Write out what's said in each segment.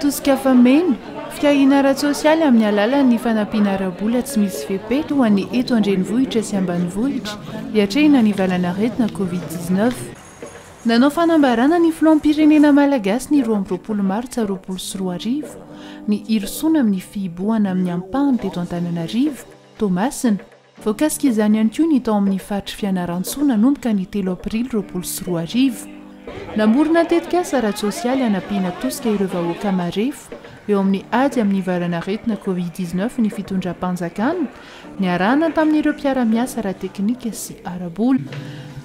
Tosika fameno, fitahiana ara-tsosialy amin'ny alalan'ny fanampiana ara-bola tsy misy fepetra ho an'ny eto an-drenivohitra sy ambanivohitra hiatrehina ny valan'aretina Covid dix-neuf. Nanao fanambarana ny filoham-pirenena malagasy ny roa amby roapolo martsa roapolo sy roa arivo, ny hirosoana amin'ny fihibohana amin'ny ampahany teto Antananarivo, Toamasina. Voakasika izany ihany koa ny tao amin'ny faritry Fianarantsoa nanomboka ny telo aprily roapolo sy roa arivo. Namorona tetikasa ara-tsosialy hanampiana tosika ireo vahoaka marefo eo amin'ny ady amin'ny varanaretina covid dix-neuf ny fitondram-panjakana, Niarahana tamin'ireo mpiara-miasa ara-teknika sy ara-bola.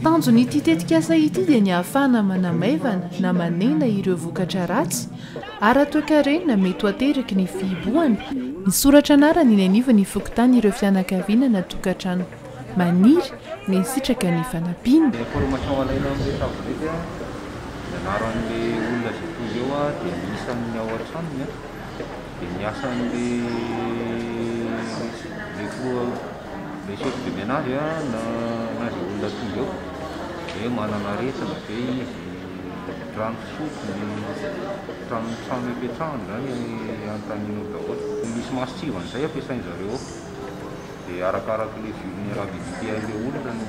Tanjon'ity tetikasa ity dia ny ahafahana manamaivana na manena ireo vokatra ratsy ara-toekarena mety ho ateraky ny fihibohana. Misoratra anarana eny anivon'ny fokontany ireo fianakaviana na tokantrano maniry na hisitraka ny fanampiana. Information alaina amin'ny tablette, ny anaran'ilay olona izay tonga eo dia ny isan'ny ao an-tranony. dia ny asan'ilay ilay filoha ilay chef de menage a na na izay olona tonga eo dia manana aretina ve izy trano fisotro ny trano trano ipetrahany izany anontaniana eo daholo tokony misy mason-tsivana izay ampiasain-dry zareo ao dia arakaraky ilay vulnerabilité an'ilay olona no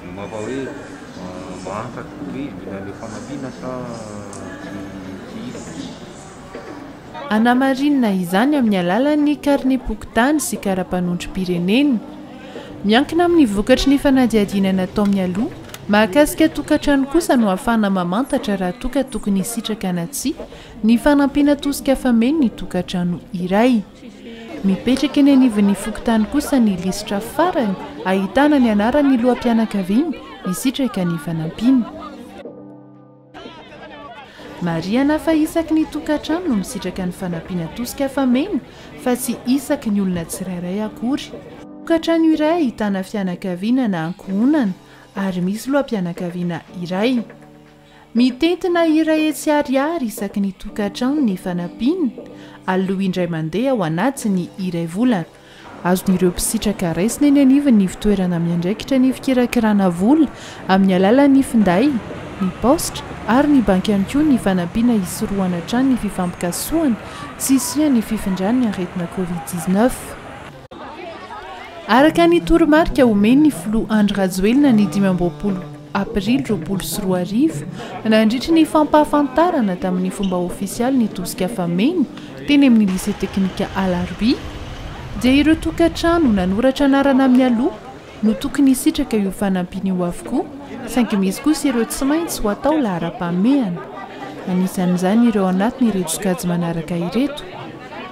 no maha hoe Mahafantatra hoe mila ilay fanampiana sa tsy izy? Anamarinina izany amin'ny alalan'ny karnem-pokontany sy karapanondrom-pirenena. Miankina amin'ny vokatry ny fanadihadiana natao mialoha mahakasika tokantrano kosa no ahafahana mamantatra raha toa ka tokony hisitraka na tsia ny fanampiana tosika fameno ny tokantrano iray. Mipetraka eny anivon'ny fokontany kosa ny lisitra farany ahitana ny anaran'ny loham-pianakaviana hisitraka ny fanampiana. Marihana fa isaky ny tokantrano no misitraka ny fanampiana tosika fameno fa tsy isaky ny olona tsirairay akory. Tokantrano iray ahitana fianakaviana na ankohonana ary misy loham-pianakaviana iray. Mitentina hira hetsy ariary isaky ny tokantrano ny fanampiana, aloha indray mandeha ao anatin'ny iray volana. Azon'ireo mpisitraka raisina eny anivon'ny ivontoerana miandraikitra ny fikirakirana vola amin'ny alalan'ny finday, ny paositra ary ny banky ihany koa ny fanampiana hisorohana hatrany ny fifampikasohana sy hisian'ny fifindran'ny aretina Covid dix-neuf. Araka ny toromarika omen'ny filoha Andry Rajoelina ny dimy amby roapolo aprily roapolo sy roa arivo, nandritry ny fampahafantarana tamin'ny fomba ofisialy ny tosika fameno teny amin'ny Lycée Teknika Alarobia, dia ireo tokantrano nanoratra anarana mialoha, no tokony hisitraka io fanampiana io avokoa, saingy misy kosa ireo tsy maintsy ho atao laharam-pahamehana. Anisan'izany ireo anatin'ireto sokajy manaraka ireto,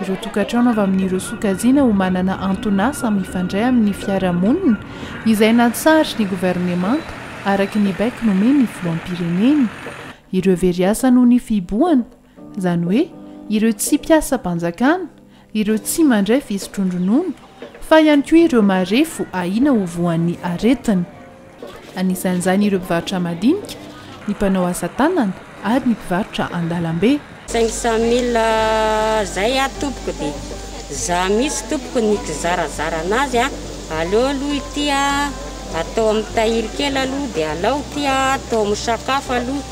ireo tokantrano avy amin'ireo sokajiana ho manana anton'asa mifandray amin'ny fiarahamonina izay natsarin'ny governemanta araka ny baiko nomen'ny filoham-pirenena, ireo very asa noho ny fihibohana, izany hoe ireo tsy mpiasam-panjakana, ireo tsy mandray fisotroan-dronono, fa ihany koa ireo marefo ahiana ho voan'ny aretina. Anisan'izany ireo mpivarotra madinika, ny mpanao asa tanana ary ny mpivarotra an-dalambe. Cinq cent mille zay a tompoko de za mitsy tompoko ny kizarazara anazy a, aleo aloha ity a atao am tahiry kely aloha de alao ty a atao am sakafo aloha.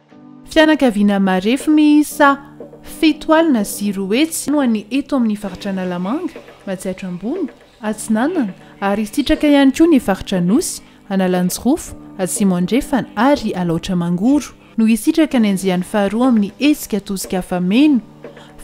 Fianakaviana marefo miisa fito alina sy roa hetsy no any eto amin'ny faritra Analamanga, Matsiatra Ambony, Atsinanana ary sitraka ihany koa ny faritra Anosy, Analanjirofo, Atsimo Andrefana ary Alaotra Mangoro no hisitraka ny andiany faharoa amin'ny hetsika tosika afa-meno.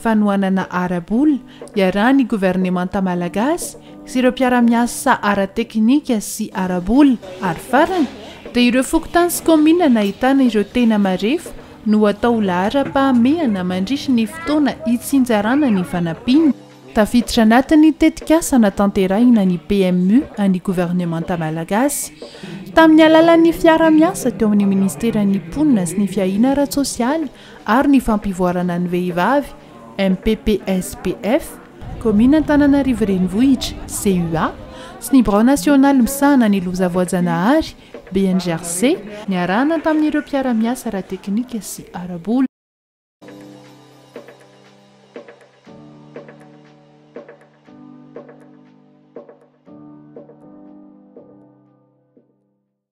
fanohanana ara-bola iarahan'ny governemanta malagasy sy ireo mpiara-miasa ara-teknika sy ara-bola ary farany dia ireo fokontany sy kaominina nahitana ireo tena marefo no atao ho laharam-pahamehana mandritry ny fotoana hitsinjarana ny fanampiana tafiditra anatin'ny tetikasa natanterahina ny PMU an'ny governemanta malagasy tamin'ny alalan'ny fiara-miasa teo amin'ny ministeran'ny mponina sy ny fiahiana ara-tsosialy ary ny fampivoarana ny vehivavy, MPPSPF, Kaominina Antananarivo Renivohitra, CUA, sy ny Birao Nasionaly Misahana ny Loza Voajanahary, BNGRC, niarahana tamin'ireo mpiara-miasa ara-teknika sy ara-bola.